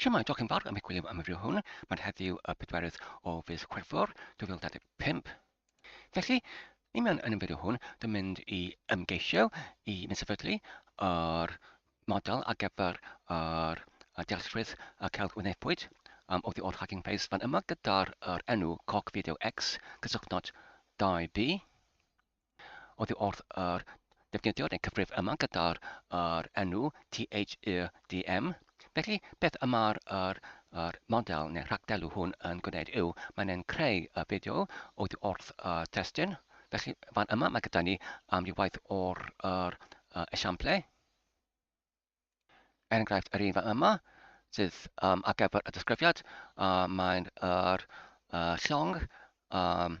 Siamai, diolch yn fawr am y gwylio am y fideo hwn. Mae'n heddiw y pedwerydd o fis Chwefror 2025. Felly, ni mewn yn y fideo hwn, dwi'n mynd i ymgeisio i mynd sefydlu yr model ar gyfer yr dealltwriaeth y celf wynebwyd um, o the old hacking face fan yma gyda'r er enw Cock Video X, cysylltnod 2B. Oddi wrth yr defnyddiwr neu cyfrif yma gyda'r yr enw THEDM. Felly, beth y mae'r yr, yr model neu rhagdelw hwn yn gwneud yw, mae'n ein creu y fideo oddi wrth y testun. Felly, fan yma mae gyda ni amrywaith o'r yr, yr esiamplau. Er enghraifft, yr un fan yma, sydd um, ar gyfer y disgrifiad, uh, mae'n yr, uh, llong um,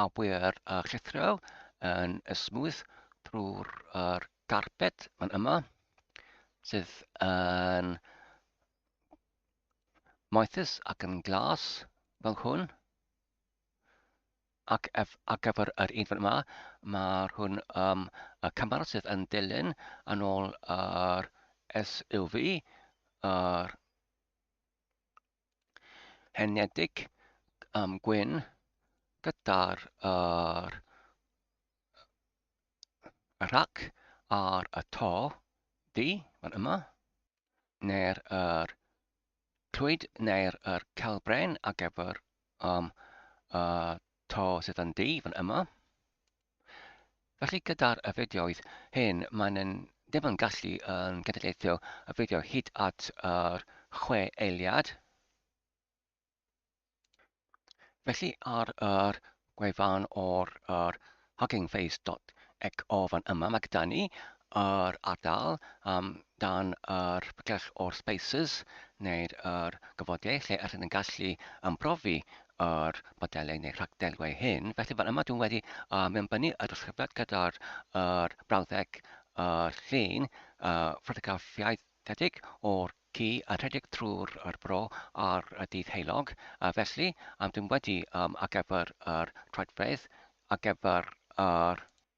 awyr a llithriol yn ysmwyth drwy'r er garped fan yma sydd yn moethus ac yn glas fel hwn ac ef, ar gyfer yr un fan yma, mae'r hwn um, y camera sydd yn dilyn yn ôl yr SUV, yr Heinedig um, gwyn gyda'r yr, y rhac ar y to di, fan yma, neu'r yr clwyd neu'r yr celbren ar gyfer um, y to sydd yn di, fan yma. Felly gyda'r y fideoedd hyn maen yn ddim yn gallu yn genedlaethio y fideo hyd at yr chwe eiliad. Felly ar yr gwefan o'r yr huggingface.xo fan yma mae gyda ni yr ardal um, dan yr pygell o'r spaces neu'r yr gyfodau lle ydyn yn gallu ymprofi yr modelau neu rhagdelwau hyn. Felly fel yma dwi'n wedi uh, mewnbynnu y disgrifiad gyda'r er brawddeg uh, llun uh, ffotograffiaethedig o'r ci a rhedeg trwy'r er bro ar y dydd heulog. Uh, felly, um, dwi'n wedi um, ar gyfer yr troedfedd, ar gyfer yr er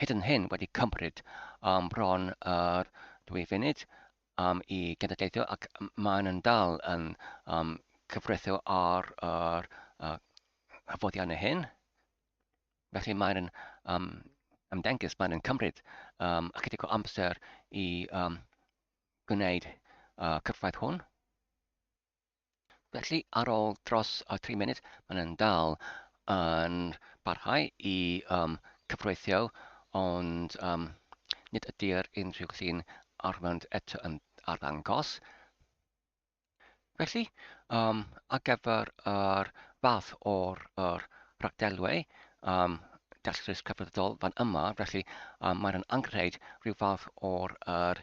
hyd yn hyn wedi cymryd um, bron yr dwy funud um, i genedlaethol ac maen yn dal yn um, cyfrethu ar yr uh, hyfoddiannau hyn. Felly mae'n yn um, ymddengys, mae'n yn cymryd um, ychydig o amser i um, gwneud uh, cyfraith hwn. Felly, ar ôl dros y tri munud, maen nhw'n dal yn parhau i um, cyfreithio, ond um, nid ydy'r unrhyw llun arwrand eto yn arddangos. Felly, um, ar gyfer yr fath o'r er rhagdelwau, um, datrys cyfredol fan yma, felly um, mae'n anghreid rhyw fath o'r er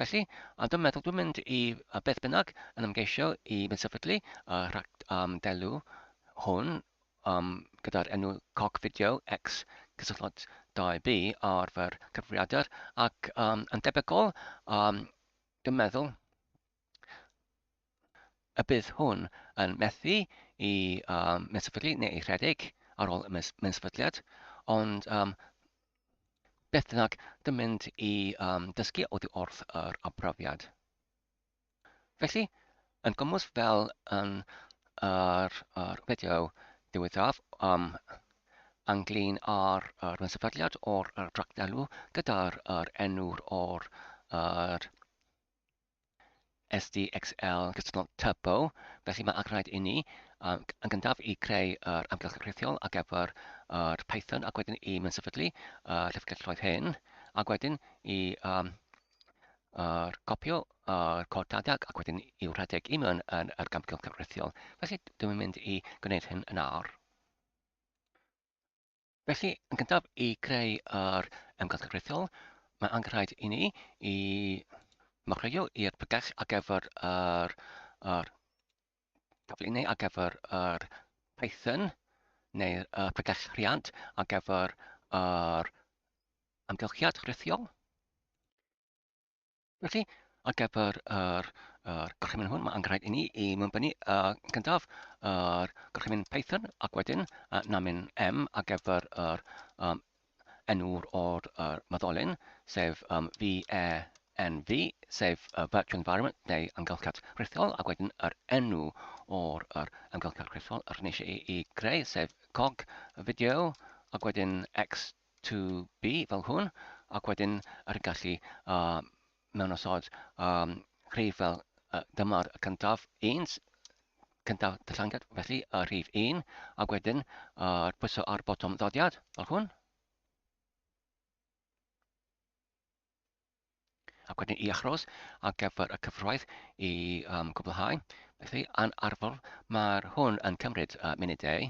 Felly, a dwi'n meddwl dwi'n mynd i a beth bynnag yn ymgeisio i fynd sefydlu y rhag um, delw hwn um, gyda'r enw coc fideo X cysylltod 2B ar fy cyfrifiadur ac um, yn debygol um, dwi'n meddwl y bydd hwn yn methu i um, mesfydlu neu ei rhedeg ar ôl y mes mesfydliad, ond um, beth bynnag, dim mynd i um, dysgu oddi wrth yr abrafiad. Felly, yn gymwys fel yn yr, yr fideo diwethaf um, anglyn ar yr ymsefydliad o'r tractelw gyda'r er enw'r o'r er SDXL gystal Turbo, felly mae ac rhaid inni um, yn gyntaf i creu yr amgylch rhithiol ar gyfer yr Python ac wedyn i mynsefydlu y llyfrgelloedd hyn ac wedyn i um, yr copio yr cod data ac wedyn i'w rhedeg i mewn yn yr gamgylch cyfreithiol. Felly dwi'n mynd i gwneud hyn yn awr. Felly, yn gyntaf, i greu yr ymgyrch gyfreithiol, mae angen rhaid i ni i marchio i'r pregell ar gyfer yr, yr taflu neu ar gyfer yr Python neu'r uh, pregell rhiant ar gyfer yr amgylchiad rhithiol. Felly, ar gyfer yr, yr gorchymyn hwn, mae angen rhaid i ni i mewnbynnu uh, gyntaf yr gorchymyn Python ac wedyn uh, namin M ar gyfer yr um, enw'r o'r uh, maddolyn, sef um, VENV, sef uh, Virtual Environment neu amgylchedd rhithiol, ac wedyn yr enw o'r er, amgylchedd rhithiol yr nes i, i greu, sef COG, y fideo, ac wedyn X to be fel hwn, ac wedyn ar y gallu uh, mewn osod um, rhif fel uh, dyma'r cyntaf, un, cyntaf dyllangiad, felly uh, rhif 1, ac wedyn uh, pwyso ar botwm ddodiad, fel hwn. Ac wedyn i achros ar gyfer y cyfraith i um, gwblhau. Felly, yn arfer, mae'r hwn yn cymryd uh, munudau.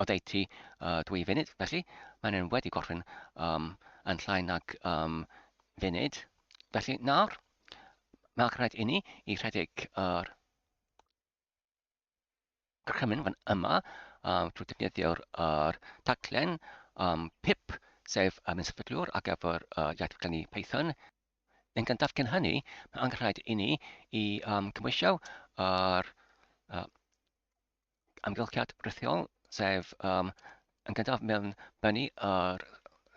oddeutu uh, dwy funud, felly mae'n yn wedi gorffen um, yn llai nag um, funud. Felly nawr, mae'n rhaid i ni i rhedeg yr er gorchymyn fan yma um, drwy defnyddio'r er taglen um, PIP, sef um, yn sefydlwr ar gyfer uh, iaith glenni Python. Yn gyntaf cyn hynny, mae'n rhaid i ni i um, cymwysio yr er, uh, amgylchiad rithiol, sef um, yn gyntaf mewn bennu yr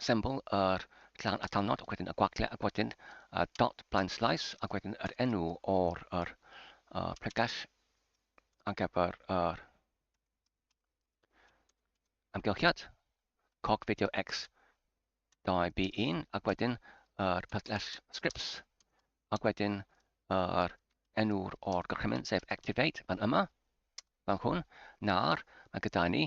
symbol yr clan a talnod, ac wedyn y gwagle, ac wedyn y dot blaen slais, ac wedyn yr enw o'r yr, uh, pregell ar gyfer yr amgylchiad, cog fideo X 2B1 ac wedyn yr pysgell scripts ac wedyn yr enw'r o'r gorchymyn sef activate fan yma fan hwn na'r mae gyda ni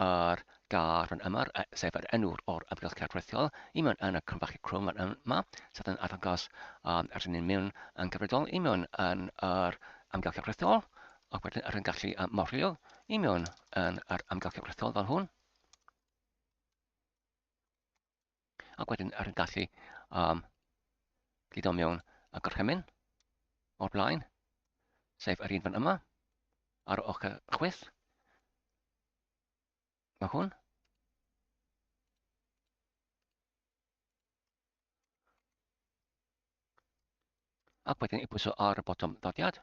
yr gar yn yma sef yr enw'r o'r amgylchedd rhithiol i mewn yn y cronfachu crwm fan yma sydd yn arddangos um, er ni'n mewn yn gyfredol i mewn yn yr amgylchedd rhithiol ac wedyn yr yn gallu um, morio i mewn yn yr amgylchedd rhithiol fel hwn Ac wedyn ar y gallu um, gludo mewn y gorchymyn o'r blaen, sef yr un fan yma, ar ochr chwith. Mae hwn. Ac wedyn i bwyso ar y botwm ddodiad.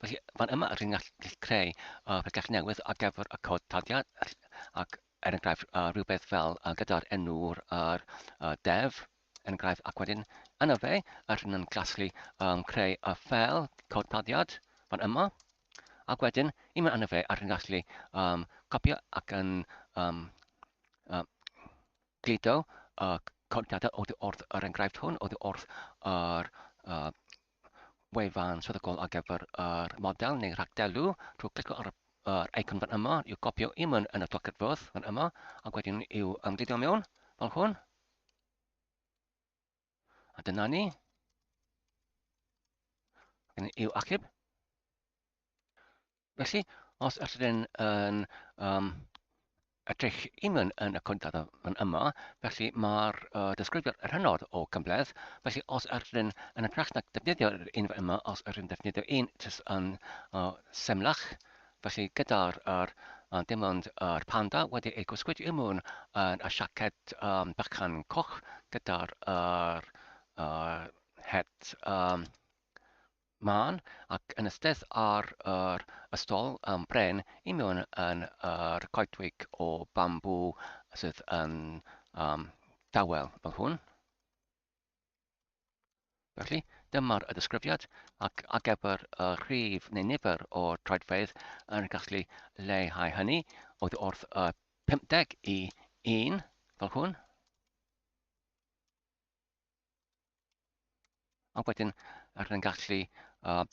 Felly, fan yma rydyn ni'n gallu creu uh, pellach newydd ar gyfer y cod taliad, ac er enghraifft uh, rhywbeth fel uh, gyda'r enw'r uh, def, er enghraifft, ac wedyn yna fe, a rydyn ni'n gallu um, creu y fel cod taliad fan yma, ac wedyn, i mewn yna fe, a rydyn ni'n gallu um, copio ac yn um, um, glido uh, cod taliad oddi wrth yr enghraifft hwn, oddi wrth yr uh, wefan swyddogol ar gyfer yr model neu rhagdelu drwy glicio ar yr eicon fan yma i'w gopio i mewn yn y doced fwrdd fan yma ac wedyn i'w ymgludio mewn fel hwn. A dyna ni. Yn i'w achub. Felly, os ydyn yn um, edrych i mewn yn y cwntad yn yma, felly mae'r uh, disgrifiad yr hynod o gymbledd, felly os ydyn yn y trach na defnyddio'r un yma, os ydyn defnyddio un jyst yn uh, semlach, felly gyda'r er, uh, dim ond yr panda wedi ei gwsgwyd i mewn yn y siaced um, bychan coch gyda'r er, uh, het um, Mân, ac yn ystedd ar yr ystol yn bren i mewn yn yr coedwig o bambŵ sydd yn um, dawel fel hwn. Felly, dyma'r y disgrifiad ac a gefyr y rhif neu nifer o troedfeydd yn gallu leihau hynny oedd wrth y 50 i 1 fel hwn. Ac wedyn, rydyn ni'n gallu uh,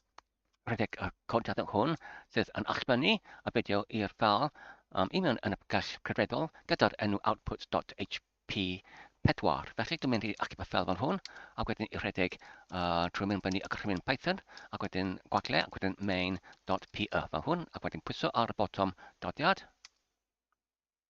rhedeg y codiadau hwn sydd yn allbynnu a fideo i'r ffal um, i mewn yn y gell credredol gyda'r enw output.hp4. Felly dwi'n mynd i achub y ffel fan hwn ac wedyn i rhedeg uh, trwy mynd fyny y gorchymyn Python ac wedyn gwagle ac wedyn main.py fan hwn ac wedyn pwyso ar y botwm dodiad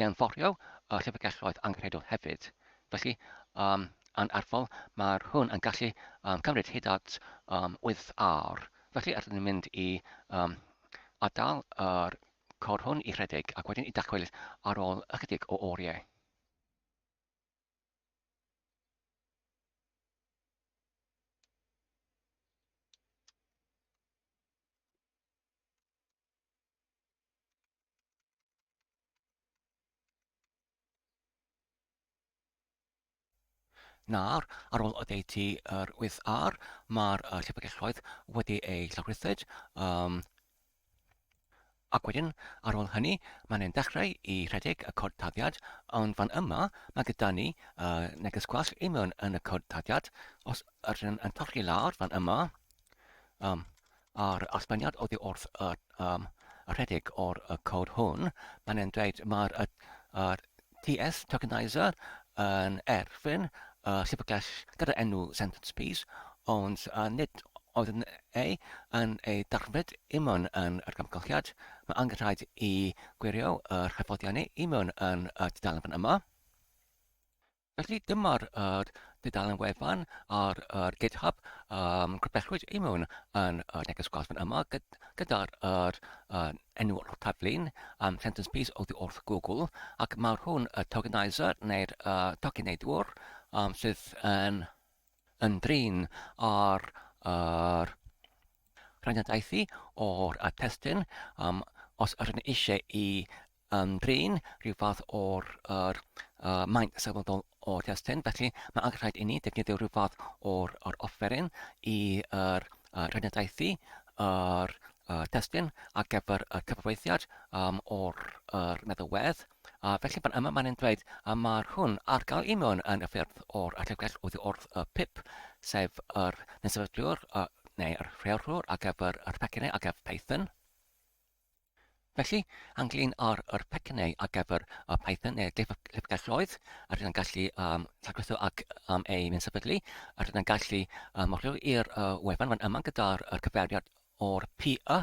Mewnforio y llyfrgelloedd angenrheidiol hefyd. Felly, um, yn arfol, mae'r hwn yn gallu um, cymryd hyd at um, 8 awr. Felly, rydyn ni'n mynd i um, adael yr cor hwn i rhedeg ac wedyn i dacwyl ar ôl ychydig o oriau. Nawr, ar ôl oddeutu yr 8R, mae'r uh, llyfrgelloedd wedi eu llawrythyd. Um, ac wedyn, ar ôl hynny, mae'n ein dechrau i rhedeg y cod taddiad, ond fan yma, mae gyda ni uh, neges gwas i mewn yn y cod taddiad. Os yr yn, yn torri lawr fan yma, Um, a'r allbaniad oddi wrth y um, rhedeg o'r y cod hwn, mae'n e'n dweud mae'r y, y TS tokenizer yn erfyn y sefydlell gyda enw sentence piece, ond a nid oedd yn ei yn ei darfod i mewn yn yr gamgylchiad. Mae angen rhaid i gwirio yr hyfforddiannu i mewn yn y dudalen fan yma. Felly dyma'r yr dudalen wefan ar yr GitHub um, grybellwyd i mewn yn y neges gwaith yma gyda'r yr, uh, enw o'r taflun um, sentence piece o ddi wrth Google ac mae hwn y tokenizer neu'r uh, tokeneidwr um, sydd yn yn drin ar yr rhaniadaethu o'r y testun um, os ydyn ni eisiau i um, drin rhyw fath o'r er, uh, maint sylweddol o'r testun, felly mae angen rhaid i ni defnyddio rhyw fath o'r or offeryn i yr uh, rhaniadaethu yr uh, testun ar gyfer y cyfreithiad um, o'r er, meddylwedd. A felly fan yma mae'n dweud a mae'r hwn ar gael i mewn yn y ffyrdd o'r allefgell oddi wrth y pip, sef yr nesefydliwr y, neu yr rheolwr ar gyfer yr pecynnau ar gyfer Python. Felly, anglyn ar yr pecynnau ar gyfer y Python neu llyfrgelloedd, a rydyn gallu um, llagwytho ac um, ei nesefydlu, a rydyn gallu um, rhyw i'r uh, wefan fan yma gyda'r cyfeiriad o'r PE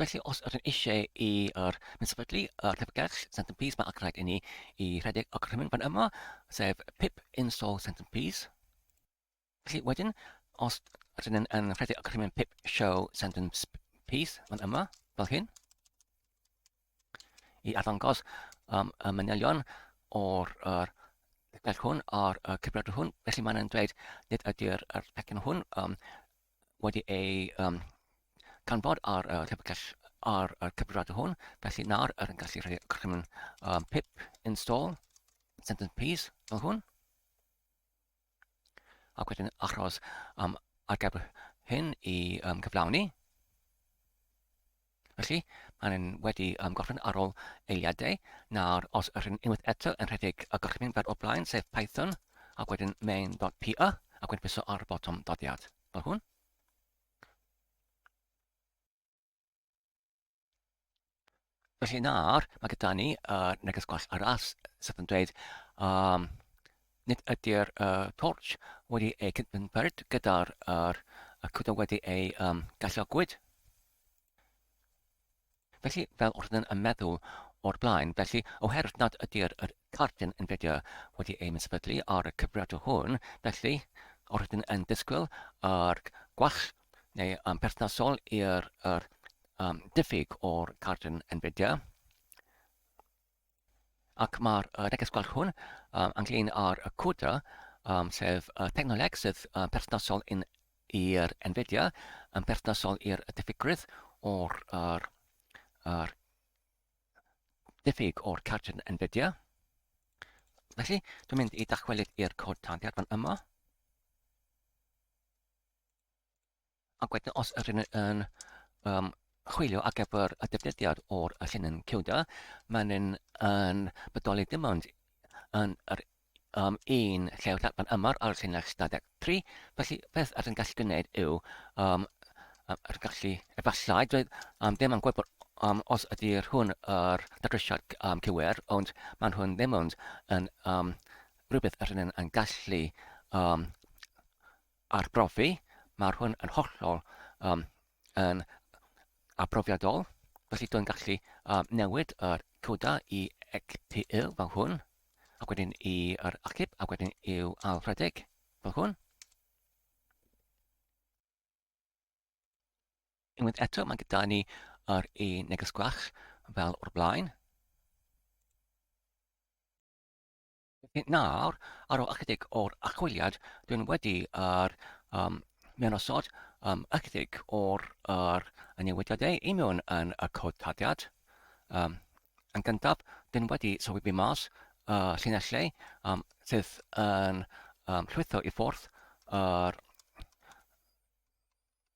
Felly, os ydym eisiau i yr mynd sefydlu y llyfrgell Centerpiece mae ac rhaid inni i rhedeg y gorchymyn fan yma, sef pip install Centerpiece. Felly wedyn, os ydym yn, yn rhedeg y gorchymyn pip show Centerpiece fan yma, fel hyn, i arddangos um, y manylion o'r er, gell hwn a'r uh, cyfrifiadur hwn. Felly mae'n dweud nid ydy'r er pecyn hwn um, wedi ei um, canfod ar y uh, llyfrgell ar y cyfrifiadur hwn. Felly nawr yr yn gallu rhoi crymyn um, pip install sentence piece fel hwn. Ac wedyn achos um, ateb hyn i um, gyflawni. Felly, maen nhw'n wedi um, gorffen ar ôl eiliadau. Nawr, os ydych chi'n unwaith eto yn rhedeg y gorchymyn fel o blaen, sef Python, ac wedyn main.py, ac wedyn piso ar y botwm doddiad, fel hwn. Felly nawr, mae gyda ni uh, neges gwell arall sydd yn dweud um, nid ydy'r uh, torch wedi ei cydnwynperd gyda'r er, y cwta wedi ei um, gallogwyd. Felly, fel wrth yn meddwl o'r blaen, felly, oherwydd nad ydy'r er, cartyn yn fideo wedi ei mysbydlu ar y cyfriadau hwn, felly, wrth yn disgwyl ar gwell neu um, perthnasol i'r er, um, diffyg o'r cardyn NVIDIA. Ac mae'r uh, neges gwell hwn um, ynglyn â'r y CUDA, um, sef uh, technoleg sydd uh, perthnasol yn i'r NVIDIA, yn perthnasol i'r diffygrwydd o'r er, er, diffyg o'r cardyn NVIDIA. Felly, dwi'n mynd i dachwelyd i'r cod tadiad fan yma. Ac wedyn os yr yn, yn um, chwilio ar gyfer y defnyddiad o'r llinyn CUDA, mae'n yn, yn bodoli dim ond yn yr um, un lle o'r ddadban yma ar y llinell stadeg 3. Felly, beth ar yn gallu gwneud yw, um, ar yn gallu, efallai, dweud, um, ddim yn gwybod um, os ydy'r hwn yr dadrysiad um, cywir, ond mae'n hwn ddim ond yn um, rhywbeth yr yn, yn gallu um, arbrofi, mae hwn yn hollol um, yn arbrofiadol, felly dwi'n gallu um, newid yr coda i XPL fel hwn, ac wedyn i'r achub, ac wedyn i'w alfredeg fel hwn. Unwaith eto, mae gyda ni yr e neges gwach fel o'r blaen. Felly nawr, ar ôl ychydig o'r archwiliad, dwi'n wedi yr um, mynosod um, ychydig o'r er, y newidiadau i mewn yn y cod tadiad. Um, yn gyntaf, dwi'n wedi sylwi bu mas y uh, llinellau um, sydd yn um, llwytho i ffwrdd yr er,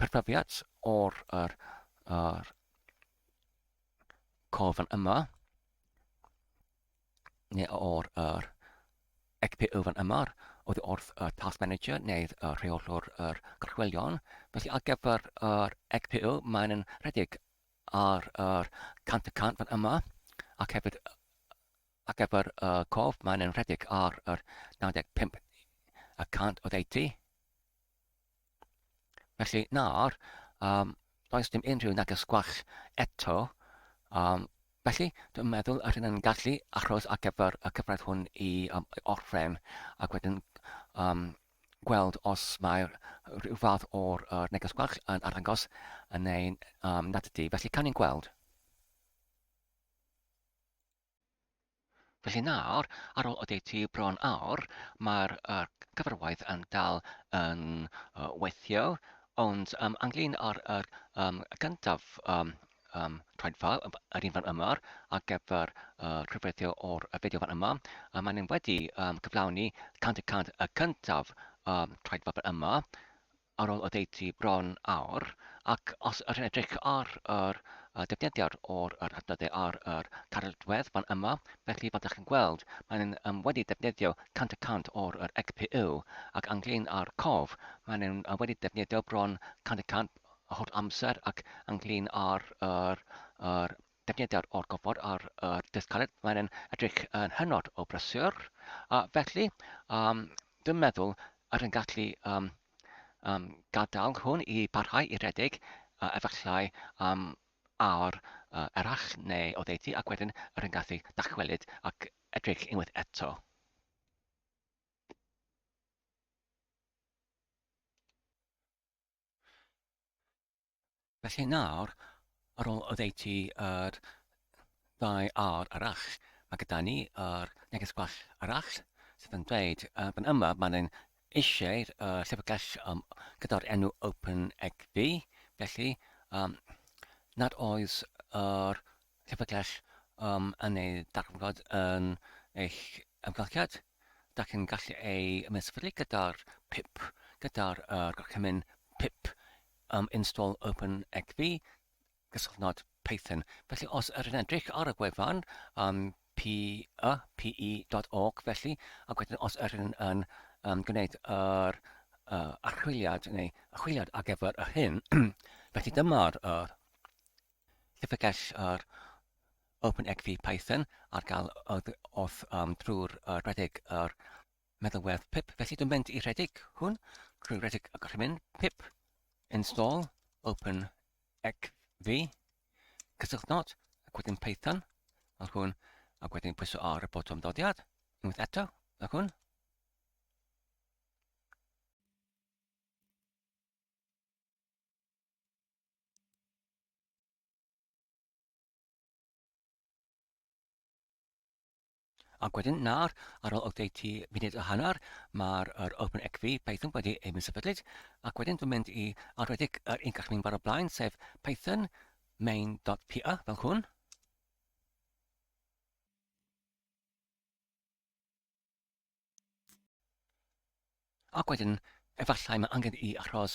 perfyfiad o'r yr, yr cofn yma, neu o'r yr XP yfan yma, oedd wrth y Task Manager neu y rheolwr yr gorchwelion. Felly ar gyfer yr XPO, mae'n yn rhedeg ar yr 100 y cant fan yma, ac hefyd ar gyfer y cof, mae'n yn rhedeg ar yr 95 y cant oedd 80. Felly, nawr, um, does dim unrhyw neges gwell eto. Um, felly, dwi'n meddwl yr hyn yn gallu achos ar gyfer y cyfraith hwn i, um, i orffen ac wedyn um, gweld os mae rhyw fath o'r uh, neges gwell yn arddangos yn ein um, nad ydy. Felly, can i'n gweld? Felly nawr, ar ôl oddeutu bron awr, mae'r uh, cyfarwaith yn dal yn uh, weithio, ond um, anglyn ar yr um, gyntaf um, um, traedfael, yr un fan yma, ar gyfer uh, cyfreithio o'r fideo fan yma, a maen nhw'n wedi um, cyflawni 100 y cyntaf um, traedfael fan yma, ar ôl oddeutu bron awr, ac os ydych yn edrych ar yr defnyddiad o'r yr adnoddau ar yr cartreddwedd fan yma, felly fel dych chi'n gweld, mae'n nhw'n um, wedi defnyddio 100 y cant o'r yr XPU, ac ynglyn â'r cof, mae'n nhw'n uh, wedi defnyddio bron 100 y cant holl amser, ac ynglyn â'r yr, yr Datganiadau o'r gofod ar y dystcaled, mae'n yn edrych yn hynod o brysur, a felly um, dwi'n meddwl yr yn gallu um, um, gadael hwn i barhau i redeg, uh, efallai am um, awr uh, erach neu o ddeutu ac wedyn yr yn gallu dachwelyd ac edrych unwaith eto. Felly nawr, ar ôl oddeutu yr ddau ar arall, mae gyda ni yr neges gwell arall sydd yn dweud uh, fan yma mae'n ein eisiau uh, llyfrgell um, gyda'r enw OpenEgv, felly um, nad oes yr llyfrgell um, yn ei darfod yn eich ymgylchiad. Da chi'n gallu ei mesfydlu gyda'r pip, gyda'r uh, gorchymyn pip am install OpenExv, gyswllt not Python. Felly os yr yn edrych ar y gwefan um, pe.org felly, ac wedyn os yr yn, yn um, gwneud yr uh, archwiliad neu achwiliad ar gyfer yr hyn, felly dyma'r uh, llyfrgell yr OpenExv Python ar gael wrth um, drwy'r uh, rhedeg yr Meddalwedd pip Felly dwi'n mynd i rhedeg hwn drwy rhedeg y gorchymyn pip install open xv cysylltu not ac wedyn Python ac hwn ac wedyn pwyso ar y botwm dodiad unwaith eto ac hwn Ac wedyn, nawr, ar ôl oddeutu munud a hanner, mae'r yr OpenXV Python wedi ei sefydlyd, ac wedyn dwi'n mynd i arwedig yr un gall mynd bar o blaen, sef Python main.py fel hwn. Ac wedyn, efallai mae angen i achos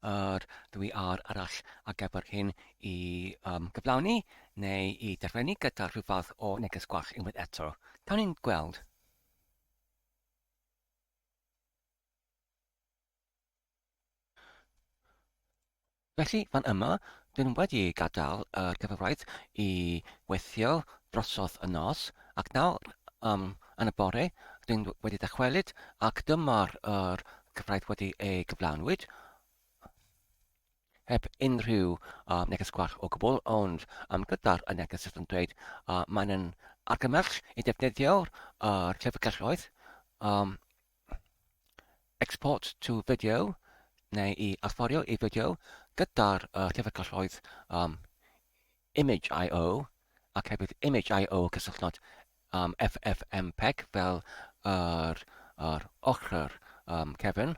yr dwy ar arall a gefyr hyn i um, gyflawni neu i derfynu gyda rhywfath o neges gwall unwaith eto. Cawn ni'n gweld. Felly, fan yma, dyn wedi gadael yr cyfraith i weithio drosodd y nos, ac nawr, um, yn y bore, dyn wedi dychwelyd, ac dyma'r yr cyfraith wedi ei gyflawnwyd, heb unrhyw uh, neges gwarch o gwbl, ond um, gyda'r y neges sydd yn dweud uh, mae'n yn argymell i defnyddio'r uh, llyfrgelloedd um, Export to video, neu i allforio i fideo, gyda'r uh, llyfrgelloedd um, Image I.O. ac hefyd Image I.O. cysylltnod um, FFmpeg fel yr, yr ochr um, cefn.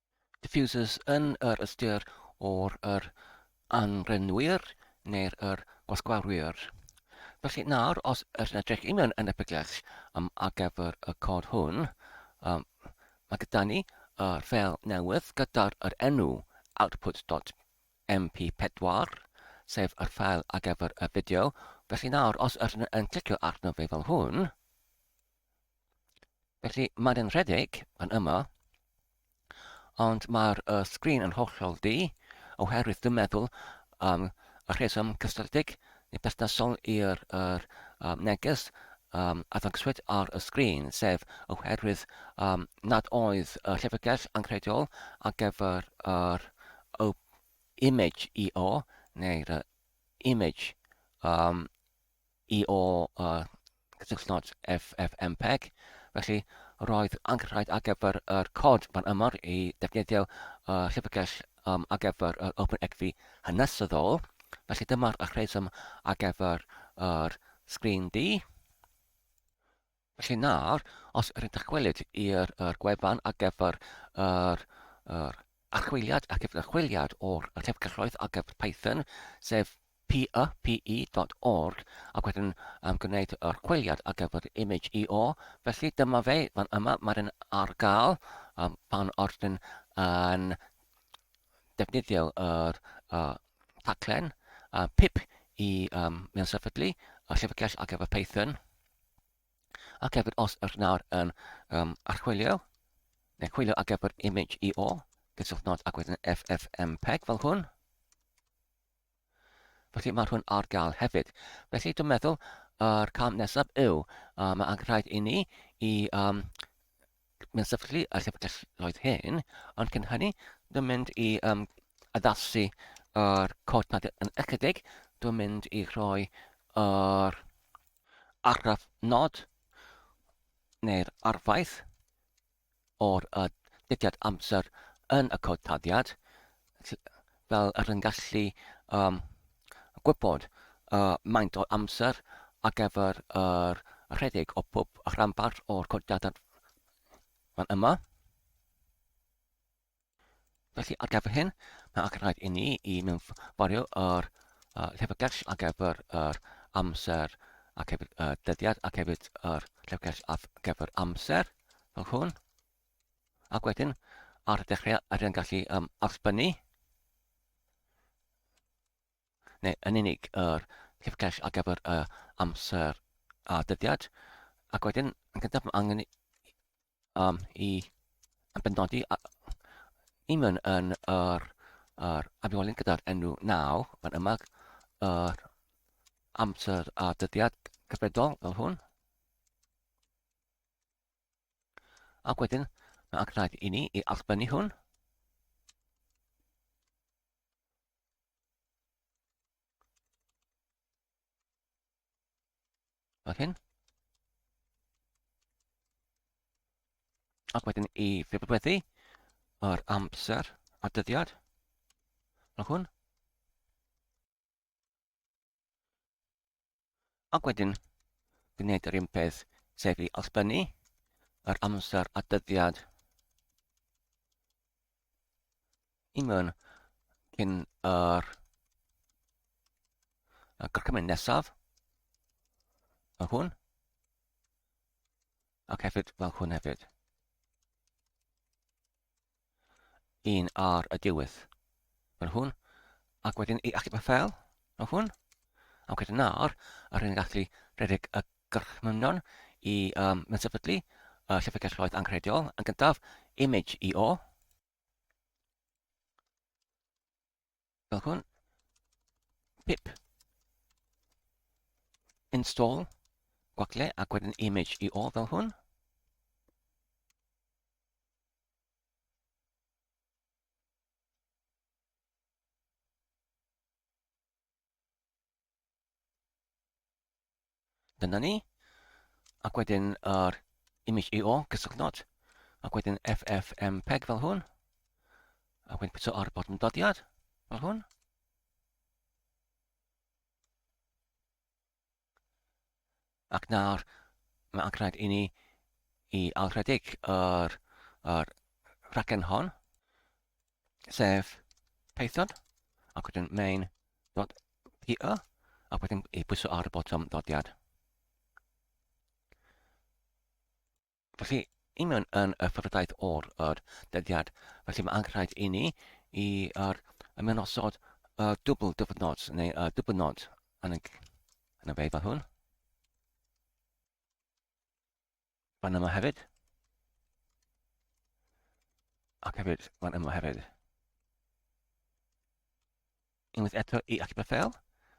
diffusers yn yr ystyr o'r yr anrenwyr neu'r yr gwasgwarwyr. Felly nawr, os ydych yn edrych un yn, yn y bygell um, ar gyfer y cod hwn, um, mae gyda ni yr fel newydd gyda'r yr enw output.py MP4, sef yr ffael ar gyfer y fideo. Felly nawr, os ydyn yn clicio arno fe fel hwn, Felly, mae'n yn rhedeg yn yma, ond mae'r uh, sgrin yn hollol di, oherwydd dwi'n meddwl um, y rheswm cysylltig neu busnesol i'r er, um, neges um, a ddangswyd ar y sgrin, sef oherwydd um, nad oedd y llyfrgell anghreidiol ar gyfer yr er, image EO neu'r uh, image um, i o gysylltnod FFmpeg, felly roedd angen rhaid ar gyfer yr cod fan yma i ddefnyddio y llyfrgell um, ar gyfer yr OpenEdfi hanesyddol. Felly dyma'r rheswm ar gyfer yr sgrin di. Felly nawr, os yr ydych gweled i'r yr gwefan ar gyfer yr, yr archwiliad ac gyfer chwiliad o'r llyfrgelloedd ar gyfer Python, sef py.org, ac wedyn um, gwneud yr chwiliad ar gyfer image EO. Felly dyma fe, fan yma, mae'n yn ar gael um, pan o'r dyn yn defnyddio yr uh, taglen uh, pip i um, mewn sefydlu a llyfrgell ar gyfer Python. Ac hefyd, os ydych nawr yn um, archwilio, neu chwilio ar gyfer image i o, gysylltwch nod ac wedyn FFmpeg fel hwn. Felly mae hwn ar gael hefyd. Felly dwi'n meddwl yr cam nesaf yw, uh, mae angen rhaid i ni i um, Mae'n sefydlu y llyfrgelloedd hyn, ond cyn hynny, dwi'n mynd i um, addasu yr cod nad yn ychydig, dwi'n mynd i rhoi yr argraff nod neu'r arfaeth o'r uh, didiad amser yn y cod taddiad, fel yr yn gallu um, gwybod uh, maint o amser ar gyfer yr rhedeg o pob rhanbarth o'r codiadau fan yma. Felly ar gyfer hyn, mae ac rhaid i ni i mewn fforio yr uh, llyfrgell ar gyfer yr amser ac hefyd y uh, dyddiad ac hefyd yr llyfrgell ar gyfer amser fel hwn. Ac wedyn, ar y dechrau, yr yn gallu um, arbennu, neu yn unig yr llyfrgell ar gyfer y amser a dyddiad. Ac wedyn, yn gyntaf, mae angen i, um, i yn benodi i mewn yn yr, yr afiolyn gyda'r enw naw, fan yma, yr amser a dyddiad cyfredol fel hwn. Ac wedyn, mae angen rhaid i ni i allbynnu hwn. Fel hyn. Ac wedyn i ffibrodweddu yr amser a dyddiad. Fel hwn. Ac wedyn, gwneud yr un peth, sef i allbynnu yr amser a dyddiad i mewn cyn yr y gorchymyn nesaf, fel hwn, ac hefyd fel hwn hefyd. un ar y diwedd. Fel hwn. Ac wedyn i achub y ffel, fel hwn. Ac wedyn nawr, a rydyn ni'n gallu rhedeg y gorchmynion i um, sefydlu y llyfrgell roedd anghreidiol yn gyntaf, image i o. fel hwn. Pip. Install. Gwacle ac wedyn image i ôl fel hwn. Dyna ni. Ac wedyn yr image EO cysylltnod. Ac wedyn FFmpeg fel hwn. Ac wedyn pwyso ar bod yn dodiad fel hwn. Ac nawr, mae angen rhaid i ni i alrhedig yr, yr rhaglen hon, sef Python, ac wedyn main.py, ac wedyn i bwyso ar y botwm ddodiad. Felly, union yn y ffyrdaeth o'r yr dyddiad, felly mae angenrhaid i ni i yr ymenosod y dwbl dyfynod neu y dybynod yn y, yn y fe fel hwn. Fan yma hefyd. Ac hefyd, fan yma hefyd. unwaith eto i allu bod fel,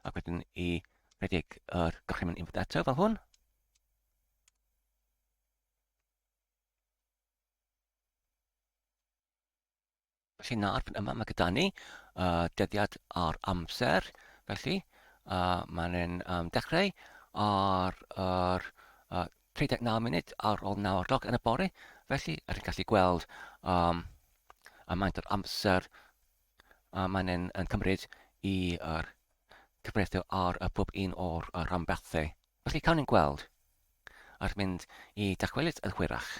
ac wedyn i rhedeg yr gorchymyn input data fel hwn. Felly nawr fan yma mae gyda ni uh, dyddiad ar amser, felly uh, mae'n yn um, dechrau ar yr uh, 39 munud ar ôl 9 o'r gloch yn y bore, felly rydyn gallu gweld um, y maint o'r amser a mae'n yn yn cymryd i yr cyfreithiau ar y pob un o'r rhanbarthau. Felly cawn ni'n gweld ar mynd i dachwelyd yn hwyrach.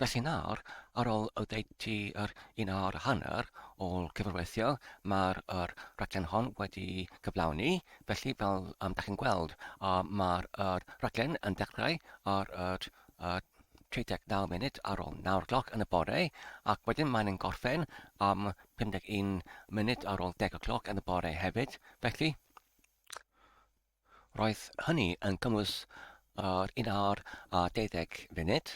Felly nawr, ar ôl oddeutu yr un awr a hanner o gyfarweithio, mae'r yr rhaglen hon wedi cyflawni. Felly, fel um, da chi'n gweld, uh, mae'r yr rhaglen yn dechrau ar yr uh, 39 munud ar ôl 9 o'clock yn y bore, ac wedyn mae'n yn gorffen am 51 munud ar ôl 10 o'clock yn y bore hefyd. Felly, Roedd hynny yn cynnwys yr un awr a deuddeg funud.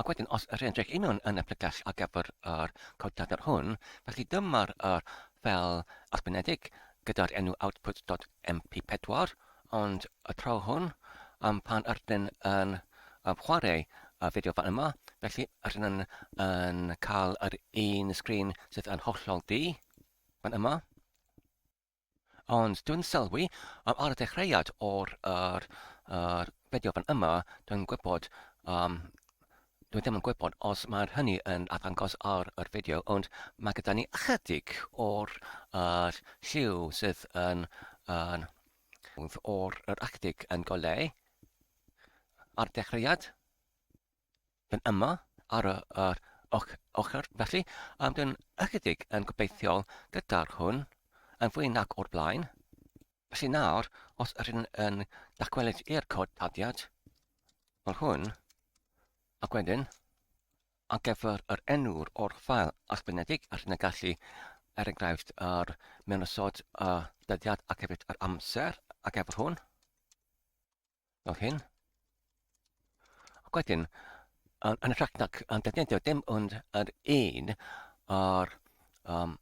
Ac wedyn, os yr edrych union yn y pregeth ar gyfer yr codiadau hwn, felly dyma'r yr fel ysgrifenedig gyda'r enw output.mp4, ond y tro hwn, am pan yr ydyn yn um, chwarae y fideo fan yma, felly yr ydyn yn, yn cael yr un sgrin sydd yn hollol ddu fan yma. Ond dwi'n sylwi, yym, ar y dechreuad o'r yr yr fideo fan yma, dwi'n gwybod, yym, dwi ddim yn gwybod os mae'r hynny yn arddangos ar yr fideo, ond mae gyda ni ychydig o'r yr lliw sydd yn yn o'r yr ychydig yn goleu ar y dechreuad. yn yma ar yr ochr felly am dyn ychydig yn gobeithiol gyda'r hwn yn fwy nac o'r blaen. Felly nawr, os ydyn yn dacwelyd i'r cod tadiad, fel hwn, ac wedyn, a gefyr yr enw'r o'r ffael allbynedig ac yn y gallu er enghraifft yr mewn ysod y dyddiad ac hefyd yr amser ac efo hwn. fel hyn. Ac wedyn, yn, yn rhaid nac yn defnyddio dim ond yr un o'r um,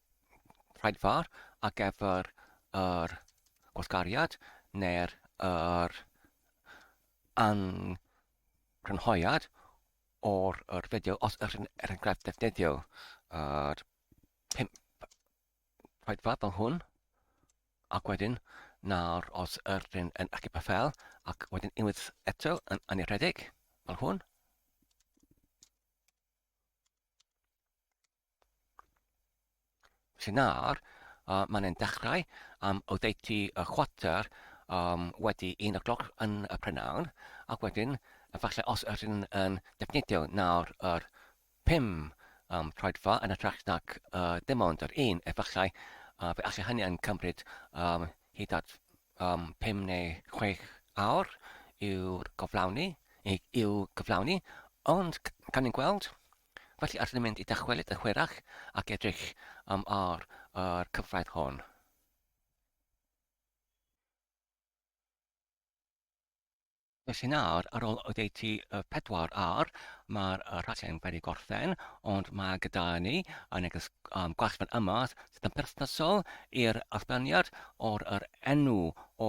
rhaid far ar gyfer yr gwasgariad neu'r er angrynhoiad o'r, or fideo os ydych chi'n er enghraifft defnyddio yr 5 rhaid fab fel hwn, ac wedyn nawr os yr dyn yn achub a fel, ac wedyn unwaith eto yn anirhedeg, fel hwn. Felly nawr, uh, mae'n ein dechrau am oddeutu y chwater um, wedi un o'r gloch yn y prynhawn, ac wedyn, efallai os yr yn, yn defnyddio nawr yr Pum, am troedfa yn hytrach nac dim ond yr un efallai, a fe alle hynny yn cymryd hyd at pum neu chwech awr yw'r goflawni, i'w gyflawni, ond cawn ni'n gweld. Felly allwn ni mynd i dychwelyd yn hwyrach ac edrych am ar yr cyfraith hon. Felly nawr, ar ôl oddeutu y pedwar awr, mae'r uh, rhaglen wedi gorffen, ond mae gyda ni yn neges um, gwell fan yma sydd yn perthnasol i'r allbaniad o'r yr enw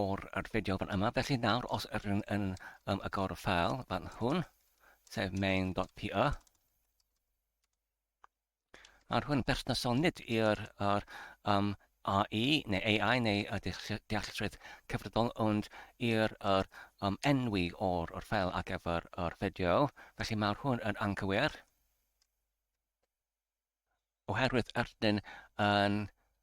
o'r yr fideo fan yma. Felly nawr, os yr yn, yn um, agor y ffeil fan hwn, sef main.py, Ar hwn berthnasol nid yw'r yr, um, AI neu AI neu y dealltredd cyfredol ond i'r yr, um, enwi o'r yr ffel ar gyfer yr fideo, felly mae'r hwn yn anghywir oherwydd erdyn yn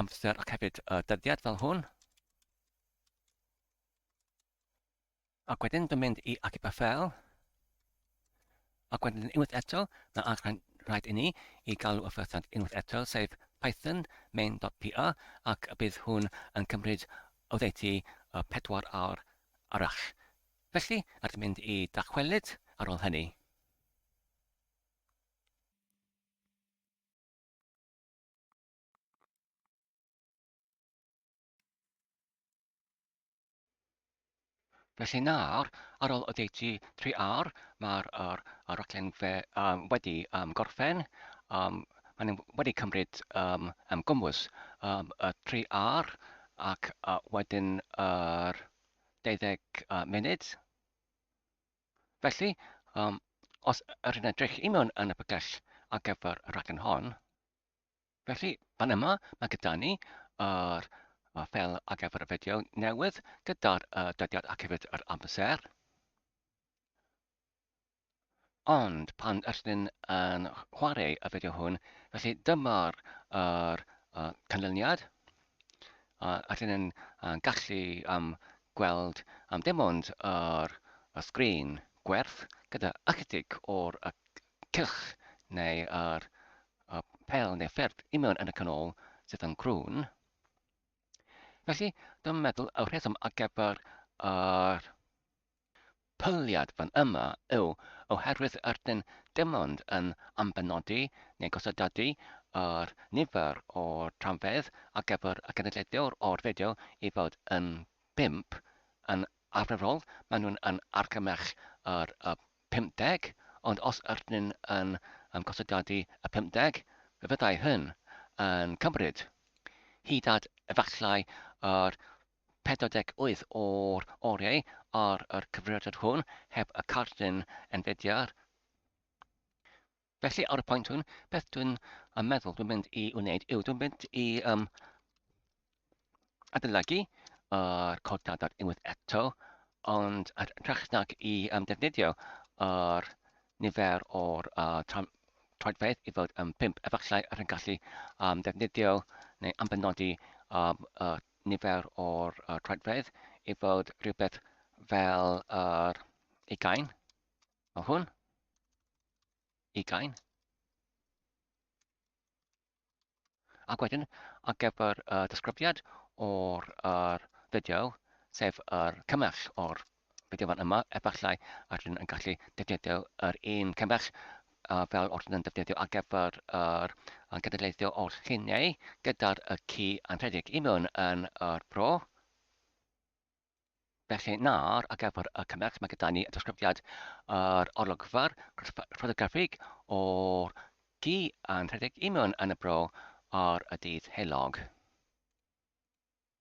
amser ac hefyd y dyddiad fel hwn. Ac wedyn dwi'n mynd i Acib a Fel. Ac wedyn unwaith eto, mae archain rhaid i ni i galw y ffyrthiant unwaith eto, sef python main.py, ac bydd hwn yn cymryd oddeutu y pedwar awr arall. Felly, rhaid mynd i dachwelyd ar ôl hynny. Felly nawr, ar ôl oddeutu 3 awr, mae'r er, er raglen fe, um, wedi um, gorffen. Um, Maen nhw wedi cymryd um, um, gwmwys um, y 3 awr ac uh, wedyn yr er 12 uh, munud. Felly, um, os yr yn edrych i mewn yn y bygell ar gyfer y rhaglen hon, felly fan yma mae gyda ni yr uh, fel ar gyfer y fideo newydd gyda'r uh, dydiad ac hefyd yr amser. Ond pan ydyn yn chwarae y fideo hwn, felly dyma'r uh, canlyniad. a dyn yn gallu um, gweld um, dim ond yr y sgrin gwerth gyda ychydig o'r y cylch neu yr y pel neu ffyrdd i mewn yn y canol sydd yn crwn. Felly, dwi'n meddwl y rheswm ar gyfer yr Pwriad fan yma yw oherwydd ydyn dim ond yn ambenodi neu gosodadu yr nifer o dramfeydd ar gyfer y cenedlaethwr o'r fideo i fod yn bump, yn arferol maen nhw'n yn argymell yr y 50, ond os ydyn yn yn gosodadu y 50, fe fyddai hyn yn cymryd hyd at efallai yr 48 o'r oriau ar yr cyfrifiadur hwn heb y cardyn enfediar. Felly, ar y pwynt hwn, beth dwi'n um, meddwl dwi'n mynd i wneud yw dwi'n mynd i um, adolygu yr cod dadar unwaith eto, ond ar hytrach nag i um, defnyddio yr nifer o'r uh, troedfedd i fod yn um, pimp, efallai rhaid gallu um, defnyddio neu ambenodi um, y nifer o'r uh, troedfedd i fod rhywbeth fel yr uh, ugain. O hwn. Ugain. Ac wedyn, ar gyfer y uh, disgrifiad o'r uh, fideo, sef yr uh, cymell o'r Bydd y fan yma, efallai, a rydyn yn gallu defnyddio yr un cymell uh, fel o'r yn defnyddio ar gyfer yr uh, genedlaethio o'r lluniau gyda'r y ci yn rhedeg i mewn yn yr bro. Felly nawr, ar gyfer y cymell, mae gyda ni y disgrifiad yr olygfa'r ffotograffig o'r gi yn rhedeg i mewn yn y bro ar y dydd heulog.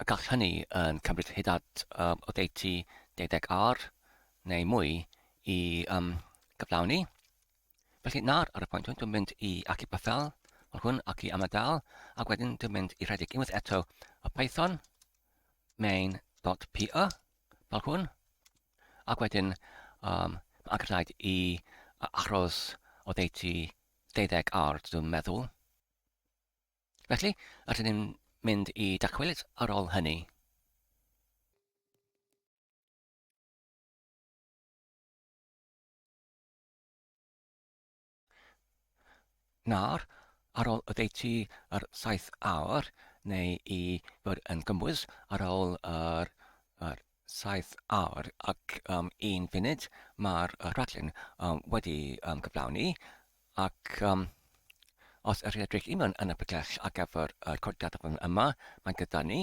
y gall hynny yn cymryd hyd at oddeutu deuddeg awr neu mwy i um, gyflawni. Felly nawr ar y pwynt hwn dwi'n mynd i Aki Pathel, fel hwn, Aki Amadal, ac wedyn dwi'n mynd i rhedeg unwaith eto y Python main.py, fel hwn, ac wedyn um, mae angen rhaid i achos oddeutu deuddeg awr, dwi'n meddwl. Felly, rydyn ni'n mynd i dacwelyd ar ôl hynny. Nawr, ar ôl oddeutu yr 7 awr, neu i fod yn gymwys ar ôl yr, yr 7 awr ac um, un funud, mae'r rhaglen um, wedi um, cyflawni. Ac um, os yr edrych i mewn yn y pellach ar gyfer y codiad fan yma, mae gyda ni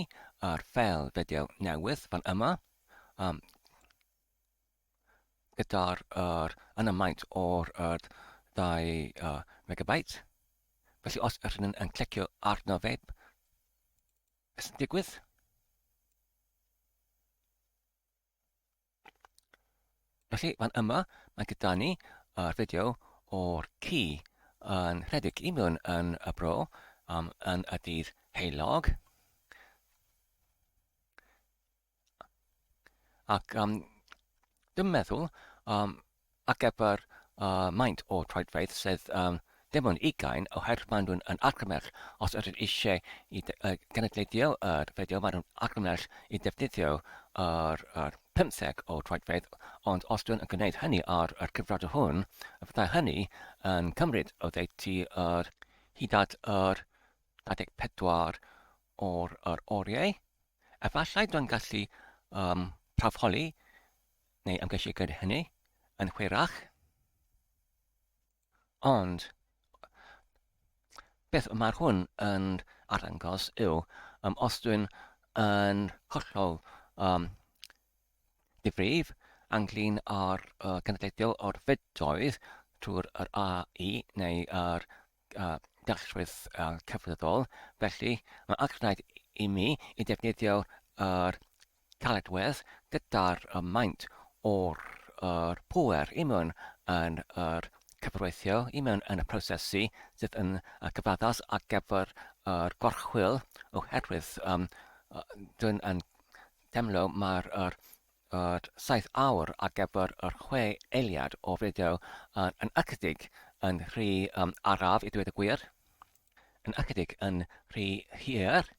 ar fel fideo newydd fan yma, um, gyda'r er, yn y maint o'r er, 2 uh, megabyte. Felly os ydych chi'n yn clicio arno fe, beth sy'n digwydd? Felly, fan yma, mae gyda ni uh, fideo o'r ci yn rhedeg i mewn yn y bro um, yn y dydd heilog. Ac um, dwi'n meddwl um, Ar gyfer uh, maint o troedfeydd sydd um, dim ond ugain, oherwydd maen nhw'n yn argymell os ydyn eisiau i uh, genedlaethio yr fideo, maen nhw'n argymell i ddefnyddio yr, yr 50 o troedfeydd, ond os dwi'n yn gwneud hynny ar yr cyfrod hwn, fyddai hynny yn cymryd o ddeiti yr hyd at yr 24 o'r, yr oriau. Efallai dwi'n gallu um, prawfholi neu ymgeisio gyda hynny yn hwyrach. Ond beth mae hwn yn arddangos yw um, os dwi'n yn hollol um, difrif anglyn ar uh, cynadleiddio o'r fedoedd trwy'r yr AE neu yr a dalltwriaeth cyfredol, felly mae'n allwraig i mi i ddefnyddio'r caledwedd gyda'r maint o'r pŵer i mewn yn yr cyfreithio, i mewn yn y prosesu sydd yn gyfaddas ar gyfer yr gorchwyl oherwydd dwi'n yn teimlo mae'r at saith awr ar gyfer yr chwe eiliad o fideo yn yn ychydig yn rhy um, araf i dweud y gwir, yn ychydig yn rhy hir.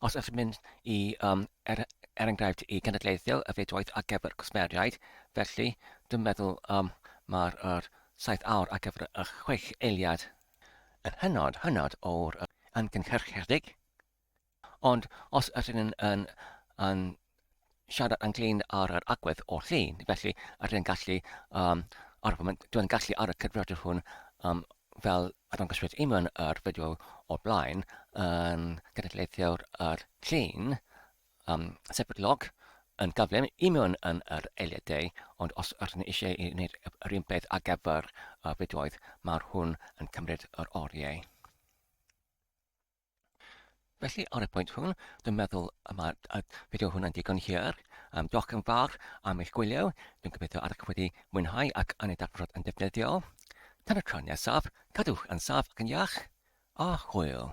Os ydych mynd i, um, er, er enghraifft, i genedlaethio y fidwaith ar gyfer cwsmeriaid, felly dwi'n meddwl um, mae'r er, saith awr ar gyfer y chwech eiliad yn hynod, hynod o'r amgynhyrchiedig. Ond os ydyn yn, yn, yn siarad ynglyn ar yr agwedd o'r llun, felly ydyn yn gallu, um, ar y foment, dwi'n gallu ar y cyfrifodydd hwn um, fel a dangoswyd i mewn yr fideo o'r blaen yn gynadleithiwr yr llun um, sefydlog yn gyflym i mewn yn yr eiliadau, ond os ydyn ni eisiau i wneud yr un peth ar gyfer y fideoedd, mae'r hwn yn cymryd yr oriau. Felly, ar y pwynt hwn, dwi'n meddwl y mae y fideo hwn yn digon hir. Um, diolch yn fawr am eich gwylio. Dwi'n gobeithio ar eich wedi mwynhau ac yn ei darfod yn defnyddiol. Tan y tro nesaf, cadwch yn saf ac yn iach, a hwyl!